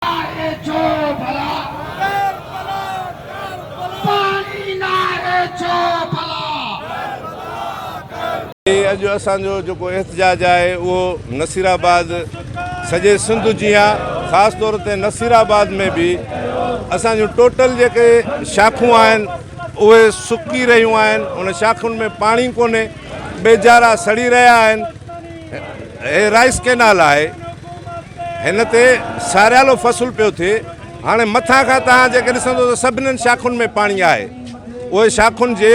ناهي ڇو ڀلا ڪربلا ڪربلا پاڻي ناهي ڇو ڀلا ڪربلا ڪربلا. هي اڄ اسان جو جيڪو احتجاج آهي اهو نصير آباد سڄي سنڌ جيان خاص طور تي نصير آباد ۾ به اسان جون ٽوٽل جيڪي شاخون آهن اهي سڪي رهيون آهن ان شاخن ۾ پاڻي ڪونهي ٻيجارا سڙي رهيا آهن هي رائيس ڪينال آهي هن تي ساريالو فصل پيو ٿئي هاڻي مٿان کان توهان جيڪي ڏسندو ته سڀني شاخن ۾ پاڻي آهي اهي شاخن جي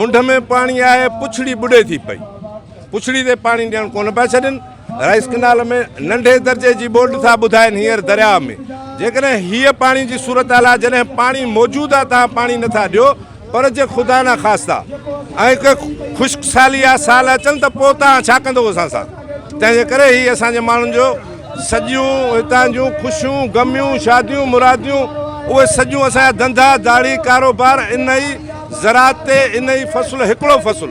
منڍ ۾ پاڻي آهي پڇڙي ٻڏي ٿي پئي پڇڙي تي پاڻي ڏيڻ ڪونه پيا ڇڏين رائيس ڪينال ۾ ننڍي درجي جي ٻوڏ ٿا ٻڌائين هينئر درياء ۾ جيڪڏهن هيء پاڻي جي صورتحال آهي جڏهن پاڻي موجود آهي توهان پاڻي نٿا ڏيو پر جي خدا نه خاستا ائين ڪي خشڪ سالي يا سال اچن ته پوء توهان ڇا ڪندو اسان سان؟ تنهن جي ڪري هي اسان جي ماڻهن جو سڄيون هتان جون خوشيون، غميون، شاديون، مراديون اهي سڄيون اسان جا ڌنڌا، ڌاڙي، ڪاروبار انهي زراعت تي انهي فصل هڪڙو فصل.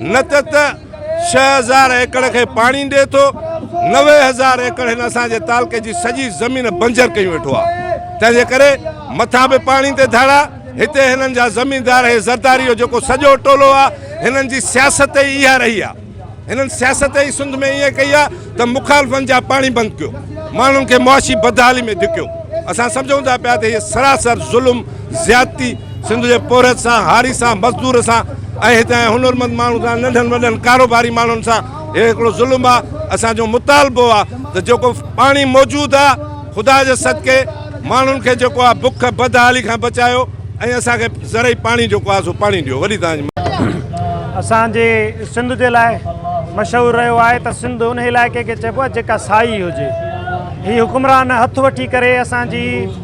نه ته ته ڇهه هزار ايڪڙ کي پاڻي ڏي ٿو نوي هزار ايڪڙ هن اسان جي تعلقي جي سڄي زمين بنجر ڪيون ويٺو آ تنهن جي ڪري مٿا به پاڻي تي ڌاڙا هتي هنن جا زميندار هي زرداري جو جيڪو سڄو ٽولو آ هنن جي سياست ئي اها رهي آ هنن سياست ئي سنڌ ۾ ايئن ڪئي آ ته مخالفن جا پاڻي بند ڪيو ماڻهن کي معاشي بدحالي ۾ ڌڪيو اسان سمجهون ٿا پيا ته هي سراسر ظلم زيادتي سنڌ جي پورهيت سان هاري سان مزدور سان ۽ هتان جي هنرمند ماڻهن سان ننڍن وڏن ڪاروباري ماڻهن سان هي هڪڙو ظلم آ اسان جو مطالبو آ ته جيڪو پاڻي موجود آ خدا جي صدقي ماڻهن کي جيڪو آ بک بدحالي کان بچايو ۽ اسان کي زرعي پاڻي جيڪو آ سو پاڻي ڏيو وڏي توهان اسان جي سنڌ جي لاء مشهور رهيو آهي ته سنڌ ان علائقي کي چئبو آهي جيڪا سائي هجي هي حڪمران هٿ وٺي ڪري اسان جي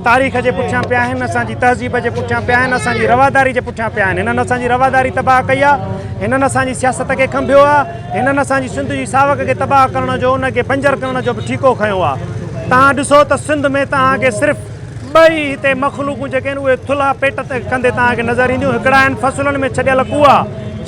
تاريخ جي پٺيان پيا آهن اسان جي تهذيب جي پٺيان پيا آهن اسان جي رواداري جي پٺيان پيا آهن هنن اسان جي رواداري تباهه ڪئي آهي هنن اسان جي سياست کي کنڀيو آهي هنن اسان جي سنڌ جي ساوڪ کي تباهه ڪرڻ جو ان کي بنجر ڪرڻ جو به ٺيڪو کنيو آ توهان ڏسو ته سنڌ ۾ توهان کي صرف ٻه ئي هتي مخلوقون جيڪي آهن اهي ٿلها پيٽ تي ڪندي توهان کي نظر اينديون هڪڙا آهن فصلن ۾ ڇڏيل ڪوئا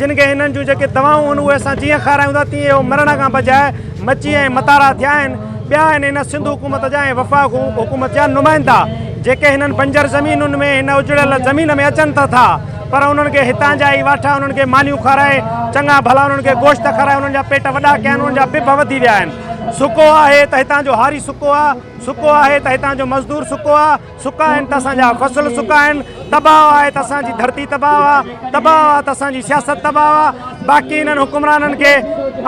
جن کي هنن جون جيڪي دوائون آهن اهي اسان جيئن کارايون ٿا تيئن اهو مرڻ کان بجاء مچي ۽ متارا ٿيا آهن ٻيا آهن هن سنڌ حڪومت جا ۽ وفاق حڪومت جا نمائندا جيڪي هنن بنجر زمينن ۾ هن اجڙيل زمين ۾ اچن ته ٿا پر انهن کي هتان جا ئي واٺا انهن کي مانيون کارائي، چڱا ڀلا انهن کي گوشت کارائي انهن جا پيٽ وڏا ڪيا آهن، انهن جا پڀ وڌي ويا آهن. سڪو آهي ته هتان جو هاري سڪو آهي، سڪو آهي ته هتان جو مزدور سڪو آهي، سڪا آهن ته اسان جا فصل سڪا آهن، تباهه آهي ته اسان جي ڌرتي تباهه آهي، تباهه آهي ته اسان جي سياست تباهه آهي. باقي انهن حڪمرانن کي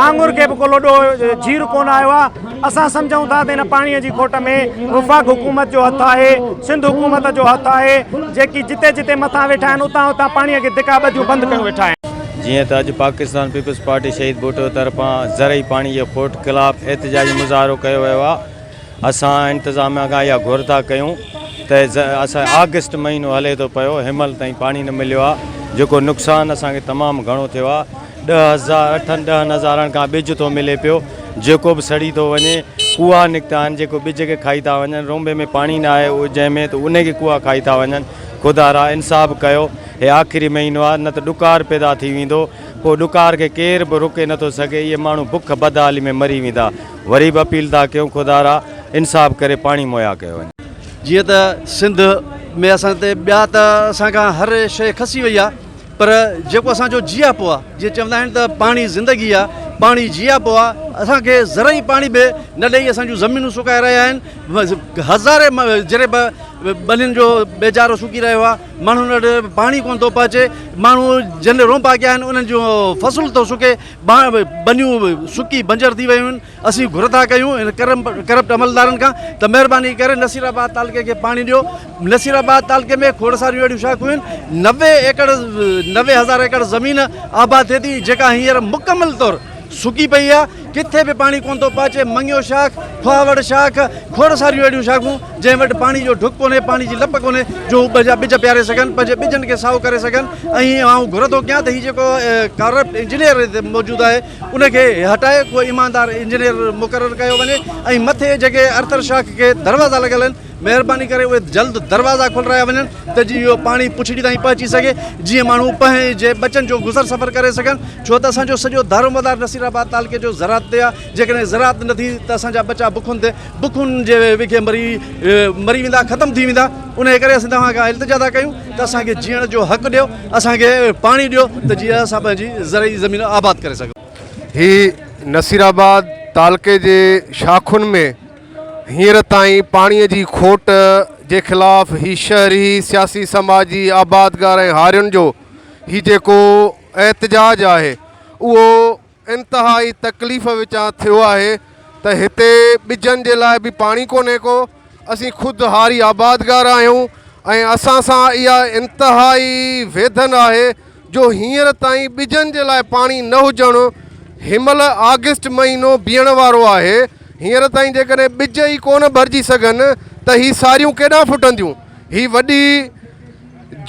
آڱر کي به ڪو لڏو جير ڪونه آيو آهي. اسان سمجهون ٿا ته ان پاڻيء جي کوٽ ۾ وفاق حڪومت جو هٿ آهي، سنڌ حڪومت جو هٿ آهي، جيڪي جتي جتي مٿان ويٺا آهن، اتان اتان پاڻيء کي ڌڪا ٻڌيون بند ڪيون ويٺا آهن. جيئن ته اڄ پاڪستان پيپلز پارٽي شهيد ڀٽو طرفان زرعي پاڻي جي کوٽ خلاف احتجاجي مظاهرو ڪيو ويو آهي، اسان انتظاميا کان اها گهر ٿا ڪيون ته اسان آگسٽ مهينو هلي ٿو پيو، هيمهل تائين پاڻي نه مليو آهي، جيڪو نقصان اسان کي تمام گهڻو ٿيو آهي. ڏهه هزار اٺن ڏهن هزارن کان ٻج ٿو ملي پيو، جيڪو به سڙي ٿو وڃي. ڪوئا نڪتا آهن، جيڪو ٻج کي کائي ٿا وڃن. رونبي ۾ پاڻي نه آهي اجهي ۾ ته انهي کي ڪوئا کائي ٿا وڃن. خدا را! انصاف ڪيو. هي آخري مهينو آهي، نه ته ڏڪار پيدا ٿي ويندو. پوء ڏڪار کي ڪير به روڪي نه ٿو سگهي. اهي ماڻهو بک بدحالي ۾ مري ويندا. وري به اپيل ٿا ڪيون، خدا را! انصاف ڪري پاڻي مهيا ڪيو وڃي. جيئن ته سنڌ ۾ اسان تي ٻيا ته اسان کان هر شيء کسي وئي آهي. پر جيڪو اسان جو جياپو آ جيئن چوندا آهن ته پاڻي زندگي آ پاڻي جياپو آ اسان کي زرعي پاڻي به نه ڏئي اسان جون زمينون سڪائي رهيا آهن هزارين جري ٻنين جو ٻيجارو سڪي رهيو آ ماڻهن وٽ پاڻي ڪونه ٿو پهچي ماڻهو جن رومبا ڪيا آهن انهن جون فصل ٿو سڪي ٻنيون سڪي بنجر ٿي ويون آهن اسين گهر ٿا ڪيون ان ڪرپٽ عملدارن کان ته مهرباني ڪري نصير آباد تعلقي کي پاڻي ڏيو نصير آباد تعلقي ۾ کوڙ ساريون اهڙيون شاخون آهن نوي ايڪڙ نوي هزار ايڪڙ زمين آباد ٿئي ٿي جيڪا هينئر مڪمل طور سڪي پئي آهي ڪٿي به پاڻي ڪونه ٿو پهچي مڱيو شاخ کهاوڙ شاخ کوڙ ساريون اهڙيون شاخون جنهن وٽ پاڻي جو ڍڪ ڪونهي پاڻي جي لپ ڪونهي جو هو پنهنجا ٻج پياري سگهن پنهنجي ٻجن کي سائو ڪري سگهن ۽ آئون گهر ٿو ڪيان ته هي جيڪو ڪارپٽ انجنيئر موجود آهي ان کي هٽائي ڪو ايماندار انجنيئر مقرر ڪيو وڃي ۽ مٿي جيڪي ارٿر شاخ کي دروازا لڳل آهن مهرباني ڪري اهي جلد دروازا کولرايا وڃن ته جيئن اهو پاڻي پڇڙي تائين پهچي سگهي جيئن ماڻهو پنهنجي ٻچن جو گذر سفر ڪري سگهن ڇو ته اسان جو سڄو دارومدار نصيرآباد تعلقي جو زراعت تي آهي جيڪڏهن زراعت نه ٿي ته اسان جا ٻچا بکن تي بکن جي وکي مري مري ويندا ختم ٿي ويندا انهي ڪري اسين توهان کان التجا ٿا ڪيون ته اسان کي جيئڻ جو حق ڏيو اسان کي پاڻي ڏيو ته جيئن اسان پنهنجي زرعي زمين آباد ڪري سگهون. هي نصير آباد تعلقي جي شاخن ۾ هينئر تائين پاڻي جي کوٽ جي خلاف هي شهري سياسي سماجي آبادگار ۽ هارين جو هي جيڪو احتجاج آهي اهو انتهائي تڪليف وچان ٿيو آهي ته هتي ٻجن جي لاء به پاڻي ڪونهي ڪو، اسين خود هاري آبادگار آهيون ۽ اسان سان اها انتهائي ويڌن آهي جو هينئر تائين ٻجن جي لاء پاڻي نه هجڻ هنمهل آگسٽ مهينو بيهڻ وارو آهي هينئر تائين جيڪڏهن ٻج ئي ڪونه ڀرجي سگهن ته هي ساريون ڪيڏانهن ڦٽنديون هي وڏي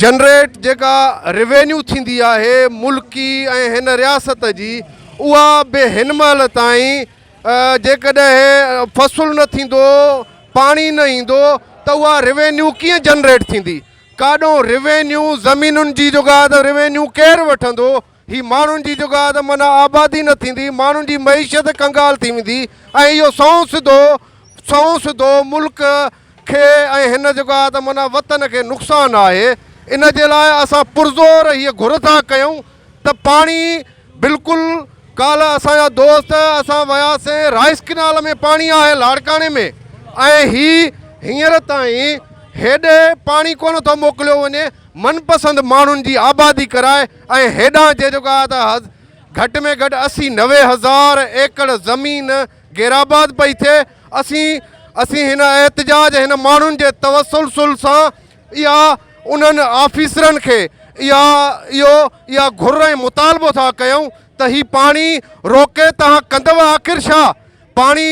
جنريٽ جيڪا روينيو ٿيندي آهي ملڪي ۽ هن رياست جي اها به هن مهل تائين جيڪڏهن فصل نه ٿيندو پاڻي نه ايندو ته اها روينيو ڪيئن جنريٽ ٿيندي ڪاڏو روينيو زمينن جي جوگا ته روينيو ڪير وٺندو هي ماڻهن جي جگاهه ته معنيٰ آبادي نه ٿيندي، ماڻهن جي معيشت ڪنگال ٿي ويندي ۽ اهو سنئون سڌو سنئون سڌو ملڪ کي ۽ هن جگاهه ته معنيٰ وطن کي نقصان آهي. ان جي لاء اسان پرزور هيء گهر ٿا ڪيون ته پاڻي بلڪل ڪالهه اسان جا دوست اسان وياسين رائيس ڪينال ۾ پاڻي آهي لاڙڪاڻي ۾ ۽ هي هينئر تائين هيڏي پاڻي ڪونه ٿو موڪليو وڃي من پسند ماڻهن جي آبادي ڪرائي ۽ هيڏانهن جي جيڪو آهي ته گهٽ ۾ گهٽ اسي نوي هزار ايڪڙ زمين غيرآباد پئي ٿئي اسين اسين هن احتجاج هن ماڻهن جي توسلسل سان اها انهن آفيسرن کي اها اهو اها گهر ۽ مطالبو ٿا ڪيون ته هي پاڻي روڪي تهان ڪندو آخر ڇا پاڻي